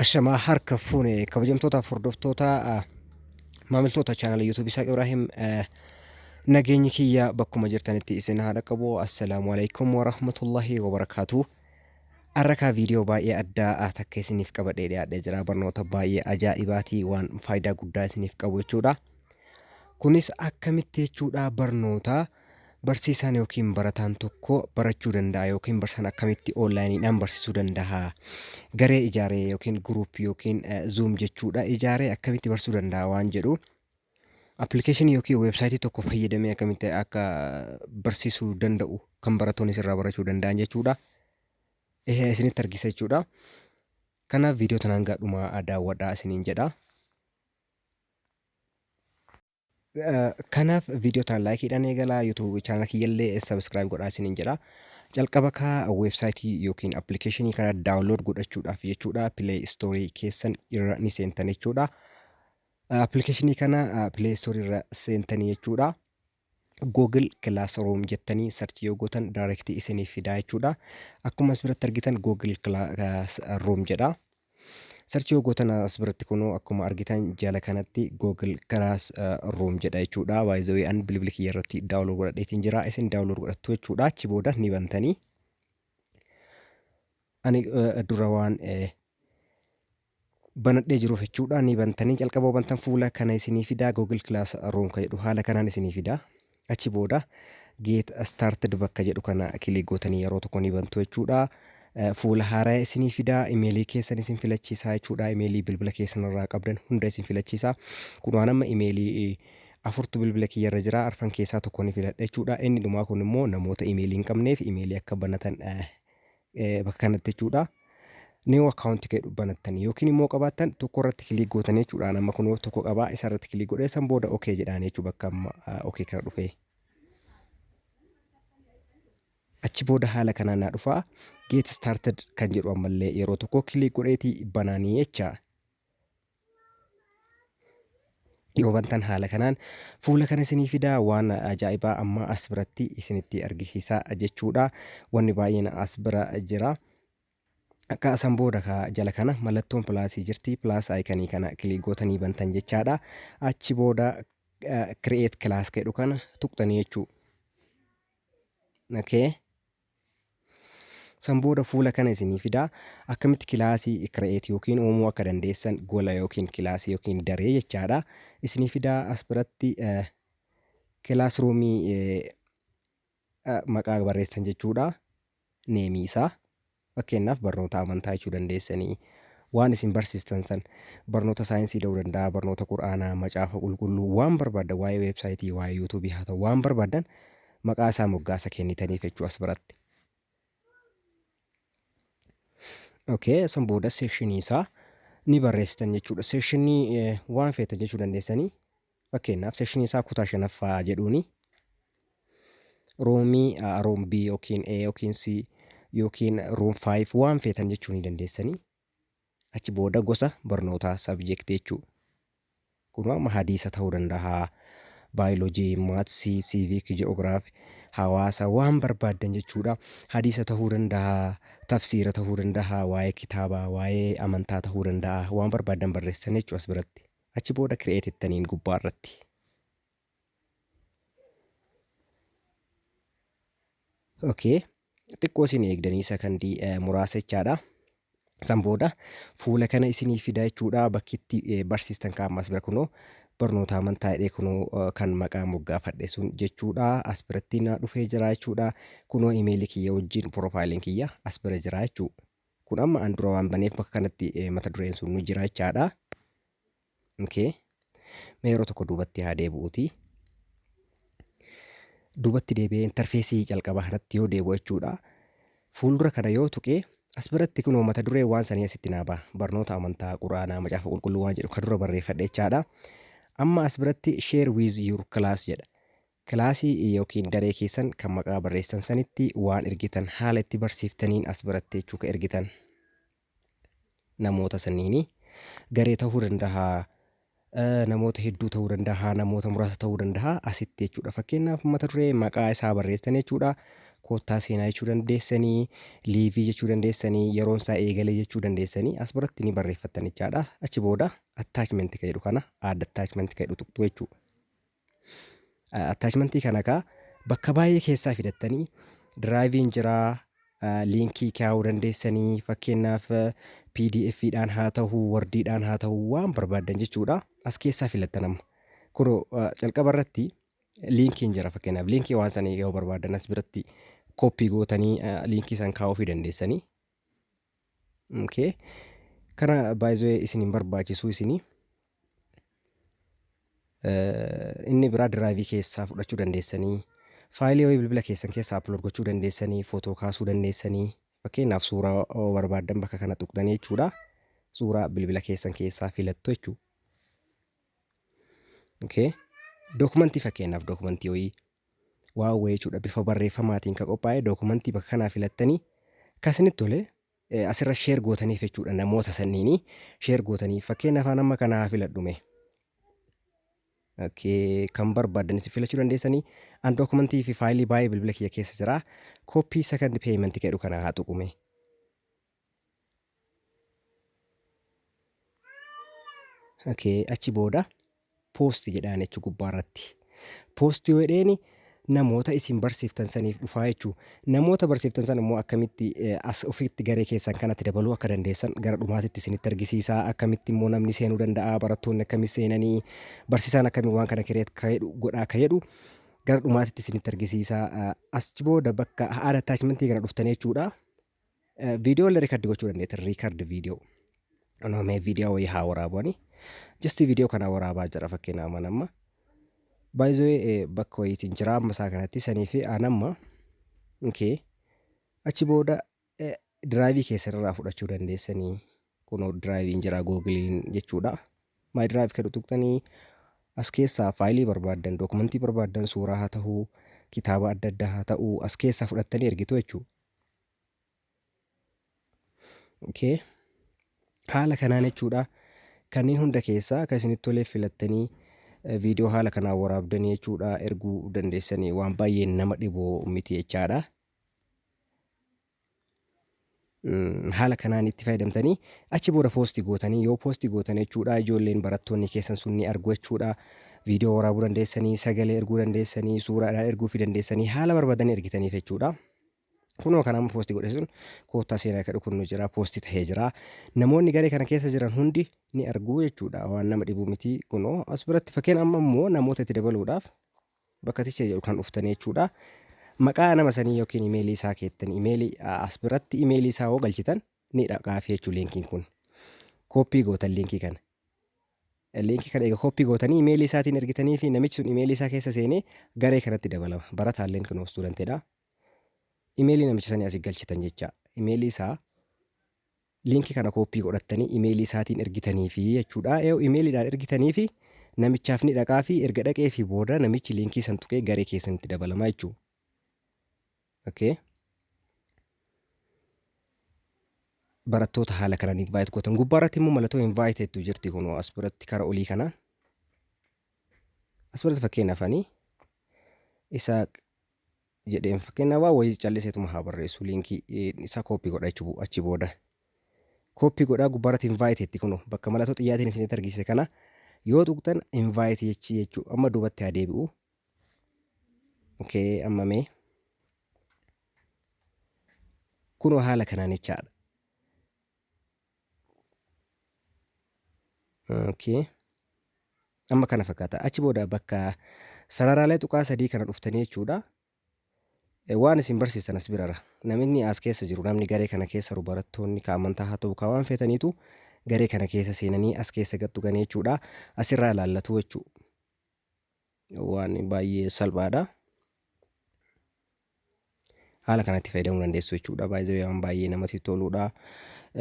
Ashamaa harka fuune kabajamtootaaf hordoftoota maamiltoota chaanala yuutuubii Isaaq Ibraahim nageenyi kiyya bakkuma jirtanitti isin haa dhaqqabu. Assalaamu alaikum warahmatullahi wabarakaatu. Arrakaa viidiyoo baay'ee addaa takka isiniif qabadhee dhiyaadhee jira. Barnoota baay'ee ajaa'ibaatii waan faayidaa guddaa isiniif qabu jechuudha. Kunis akkamitti jechuudha barnoota. Barsiisaan yookiin barataan tokko barachuu danda'a yookiin barsiisaan akkamitti oonlaayiniidhaan barsiisuu danda'a? Garee ijaaree yookiin guruuppii yookiin zuum jechuudha ijaaree akkamitti barsiisuu danda'a waan jedhu appilikeeshinii yookiin weebsaayitii tokko fayyadamee akkamitti akka barsiisuu danda'u kan barattoonni irraa barachuu danda'an jechuudha. Ehe isinitti argisa jechuudha. Kanaaf viidiyoo tanaan gaadhumaa daawwadhaa isiniin jedha. Kanaaf viidiyoo tana laayikiidhaan eegalaa YouTube chaanala kiyyallee subscribe godhaa isiniin jedha. Jalqaba kaa weebsaayitii yookiin appilikeeshinii kana daawunlood godhachuudhaaf jechuudha pileey istoorii keessan irra ni seentan jechuudha. Appilikeeshinii kana pileey istoorii irra seentanii jechuudha. Google Classroom jettanii sarchii yoo gootan daayirektii isiniif fidaa jechuudha. Akkuma as biratti argitan Google Classroom jedha. Search yoo gootan as biratti kunoo akkuma argitan jala kanatti Google Class Room jedha jechuudha. By the way an bilbila kiyya irratti download godhadheetiin jira. Isin download godhattu jechuudha. Achi booda ni bantanii. Ani dura waan banadhee jiruuf jechuudha ni bantanii jalqaba bantan fuula kana isinii fidaa Google Class Room kan jedhu haala kanaan isinii fidaa. Achi booda get started bakka jedhu kana click gootanii yeroo tokko ni bantu jechuudha. Fuula haaraya isinii fida, imeelii keessan isin filachiisaa jechuudha. Imeelii bilbila keessan irraa qabdan hunda isin filachiisa. Kun waan amma imeelii afurtu bilbila kiyya irra jira. Arfan keessaa tokko ni filadha jechuudha. Inni dhumaa kun immoo namoota imeelii hin qabneef imeelii akka banatan bakka kanatti jechuudha. New account jedhu banattanii yookiin immoo qabaattan tokko irratti kiliik gootanii jechuudha. Amma kunoo tokko qabaa isa irratti kiliik godhee san booda OK jedhaan jechuudha bakka amma OK kana dhufee. Achi booda haala kanaan naa dhufaa get started kan jedhu ammallee yeroo tokko kiliik godheeti banaanii jecha. yoo bantan haala kanaan fuula kana isinii fidaa waan ajaa'ibaa amma as biratti isinitti argisiisaa jechuudha wanni baay'een as bira jira akka asan booda ka jala kana mallattoon pilaasii jirti pilaas aayikanii kana kilii gootanii bantan jechaadha achi booda kireet kilaas jedhu kana tuqxanii jechuu okay San booda fuula kana isinii fidaa akkamitti kilaasii create yookiin uumuu akka dandeessan gola yookiin kilaasii yookiin daree jechaadha. Isinii fidaa as biratti classroom maqaa barreessan jechuudha. Neemii isaa fakkeenyaaf barnoota amantaa jechuu dandeessanii waan isin barsiistan san barnoota saayinsii ta'uu danda'a, barnoota quraanaa, macaafa qulqulluu waan barbaadan waa'ee weebsaayitii, waa'ee yuutuubii haa ta'u waan barbaadan maqaa isaa moggaasa kennitaniif jechuu as biratti. Okay, san booda seeshinii isaa ni barreessitan jechuudha. Seeshinii eh, waan feetan jechuu dandeessanii. Fakkeenyaaf seeshinii isaa kutaa shanaffaa jedhuuni. Roomii ah, room B yookiin A yookiin C yookiin room 5 waan feetan jechuu ni dandeessanii. Achi booda gosa barnootaa, subject, jechuu. Kunoo amma hadiisa ta'uu danda'a, biology, maths, civic, geography, hawaasa waan barbaaddan jechuudha. Hadiisa ta'uu danda'a, tafsiira ta'uu danda'a, waa'ee kitaabaa, waa'ee amantaa ta'uu danda'a. Waan barbaaddan barreessitan jechuu as biratti. Achi booda create jettaniin gubbaa irratti. Okay. Xiqqoo isin eegdanii sakandii muraasa jechaadha. San booda fuula kana isinii fida jechuudha bakki itti barsiistan kaa'amas bira kunoo barnoota amantaa jedhee kunoo kan maqaa moggaafadhe sun jechuudha as biratti na dhufee jira jechuudha kunoo imeelii kiyya wajjin piroofaayiliin kiyya as bira jira jechuudha. Kun amma an dura waan baneef bakka kanatti mata dureen sun nu jira jechaadha. Okay. Mee yeroo tokko duubatti haa deebi'uuti. Duubatti deebi'ee intarfeesii jalqabaa kanatti yoo deebi'u jechuudha. Fuuldura kana yoo tuqee as biratti kunoo mata duree waan sanii asitti naa ba'a. Barnoota amantaa, quraanaa, macaafa qulqulluu waan jedhu kan dura barreeffadhe jechaadha. Amma as biratti share with your class jedha. Kilaasii yookiin daree keessan kan maqaa barreessitan sanitti waan ergitan haala itti barsiiftaniin as biratti jechuu ka ergitan. namoota sanniini garee ta'uu danda'a namoota hedduu ta'uu danda'a namoota muraasa ta'uu danda'a asitti jechuudha fakkeenyaaf mata duree maqaa isaa barreessan jechuudha koottaa seenaa jechuu dandeessanii liivii jechuu dandeessanii yeroon isaa eegalee jechuu dandeessanii as biratti ni barreeffattan jechaadha achi booda attachment ka jedhu kana add attachment ka jedhu tuqxu jechuudha Attachmentii kana kaa bakka baay'ee keessaa fidattanii diraayiviin jiraa liinkii kaa'uu dandeessanii fakkeenyaaf pdf dhaan haa ta'uu wordii dhaan haa ta'uu waan barbaaddan jechuudha as keessaa filattan amma kuno calqaba irratti liinkiin jira fakkeenyaaf liinkii waan sanii yoo barbaaddan as biratti kooppii gootanii liinkii san kaa'uu fi dandeessanii Okay. Kana baay'ee isin hin barbaachisu isinii. Eh, inni biraa diraayivii keessaa fudhachuu dandeessanii faayilii wayii bilbila keessan keessaa upload gochuu dandeessanii footoo kaasuu dandeessanii fakkeenyaaf suuraa oo barbaaddan bakka kana tuqxanii jechuudha suuraa bilbila keessan keessaa filattu jechuudha. Okay. Dookumentii fakkeenyaaf dookumentii wayii waawwee jechuudha bifa barreeffamaatiin ka qophaa'e dookumantii bakka kanaa filattanii ka isinitti tole asirra sheer gootaniif jechuudha namoota sanniini sheer gootaniif fakkeenyaaf an amma kana haa filadhu mee Okay, kan barbaadan isin filachuu dandeessanii an dookumantii fi faayilii baay'ee bilbila kiyya keessa jira kooppii second payment jedhu kana haa tuqume Okay, achi booda poosti jedhaan jechuu gubbaa irratti. Poosti yoo jedheeni namoota isin barsiiftan saniif dhufaa jechuu. Namoota barsiiftan san immoo akkamitti eh, as ofitti garee keessan kanatti dabaluu akka dandeessan gara dhumaatitti isinitti argisiisa. Akkamitti immoo namni seenuu danda'a, barattoonni akkamitti seenanii, barsiisaan akkamiin waan kana kireet akka jedhu godha akka jedhu gara dhumaatitti isinitti argisiisa. Eh, Achi booda bakka haala attachmentii kana dhuftanii jechuudha. Viidiyoo illee riikardi gochuu dandeetti. Riikardi viidiyoo. Anoo mee viidiyoo wayii haa waraabuani. Jasti viidiyoo kana waraabaa jira fakkeenyaaf mana amma. Baay'ee bakka wayiitiin jira amma isaa kanatti sanii fi aan amma. Okay. Achi booda diraayivii keessan irraa fudhachuu dandeessanii kunoo diraayiviin jira googiliin jechuudha. Maay diraayiv kan tuqxanii as keessaa faayilii barbaaddan dookumentii barbaaddan suuraa haa ta'uu kitaaba adda addaa haa ta'uu as keessaa fudhattanii ergitu jechuudha. Okay. Haala kanaan jechuudha. Kanneen hunda keessaa akka isinitti tolee filattanii viidiyoo haala kanaan waraabdanii jechuudha erguu dandeessanii waan baay'ee nama dhibu miti jechaadha. Haala kanaan itti fayyadamtanii achi booda poosti gootanii yoo poosti gootan jechuudha ijoolleen barattoonni keessan sun ni argu jechuudha. Viidiyoo waraabuu dandeessanii, sagalee erguu dandeessanii, suuraadhaan erguu fi dandeessanii haala barbaadanii ergitaniif jechuudha. Kunoo kan amma poosti godhe sun koottaa seenaa akka dhukunnu jira poosti tahee jira. Namoonni garee kana keessa jiran hundi ni arguu jechuudha waan nama dhibuu miti kunoo as biratti fakkeen amma immoo namoota itti dabaluudhaaf bakka ticha jedhu kan dhuftanii jechuudha. Maqaa nama sanii yookiin imeelii isaa keettan imeelii as biratti imeelii isaa hoo galchitan ni dhaqaafi jechuun liinkiin kun. Kooppii gootan liinkii kana. Liinkii kana egaa kooppii gootanii imeelii isaatiin ergitanii fi namichi sun imeelii isaa keessa seenee garee kanatti dabalama. Barataalleen kun istuudantidha. Imeelii namicha sanii asii galchitan jecha. Imeelii isaa liinkii kana kooppii godhattanii imeelii isaatiin ergitanii fi jechuudha. Eewu imeeliidhaan ergitanii fi namichaaf ni dhaqaa fi erga dhaqee fi booda namichi liinkii san tuqee garee keessanitti dabalama jechuudha. Okay. Barattoota haala kanaan invite gootan gubbaa irratti immoo mallattoo invite tu jirti kun as biratti kara olii kanaan. As biratti fakkeenyaaf ani isa jedheen fakkeenyaaf waa wayii calliseetuma haa barreessu liinkii isaa kooppii godha jechuudha achi booda. Kooppii godhaa gubbaa irratti invite ti kun bakka mallattoo xiyyaatiin isinitti argisiise kana yoo tuqxan invite jechii jechuudha amma duubatti haa deebi'u okay amma mee kunoo haala kanaan jechaadha okay amma kana fakkaata achi booda bakka sararaalee tuqaa sadii kana dhuftanii jechuudha Eh, waan isin barsiistan as birara namni as keessa jiru namni garee kana keessa jiru barattoonni ka amantaa haa ta'u ka waan feetaniitu garee kana keessa seenanii as keessa gattu ganee jechuudha asirraa ilaallatu jechuudha waan baay'ee salphaadha. Haala kanatti fayyadamuu dandeessu jechuudha. Baay'ee waan baay'ee namatti toludha.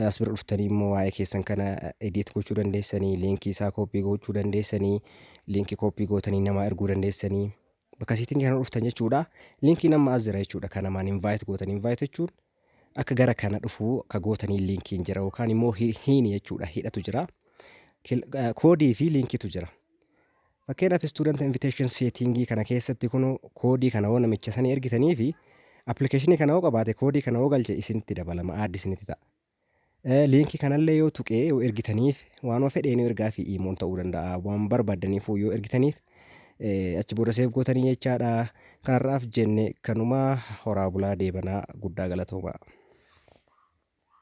As bira dhuftanii immoo waa'ee keessan kana edit gochuu dandeessanii, liinkii isaa koppii gochuu dandeessanii, liinkii koppii gootanii namaa erguu dandeessanii. Bakka siitiin kana dhuftan jechuudha. Liinkiin amma as jira jechuudha. Kan namaan invite gootan invite jechuun akka gara kana dhufuu akka gootanii liinkiin jira yookaan immoo hiini jechuudha hidhatu jira. Koodii fi liinkiitu jira. Fakkeenyaaf student invitation setting kana keessatti kuno koodii kana hoo namicha sanii ergitanii fi application kana hoo qabaate koodii kana hoo galche isinitti dabalama aaddi isinitti ta'a. Liinkii kanallee yoo tuqee yoo ergitaniif waanuma fedheen yoo ergaa fi iimoon ta'uu danda'a waan barbaadaniif yoo ergitaniif achi booda seef gootanii jechaadha. Kanarraaf jenne kanumaa horaa bulaa deebanaa guddaa galatoomaa.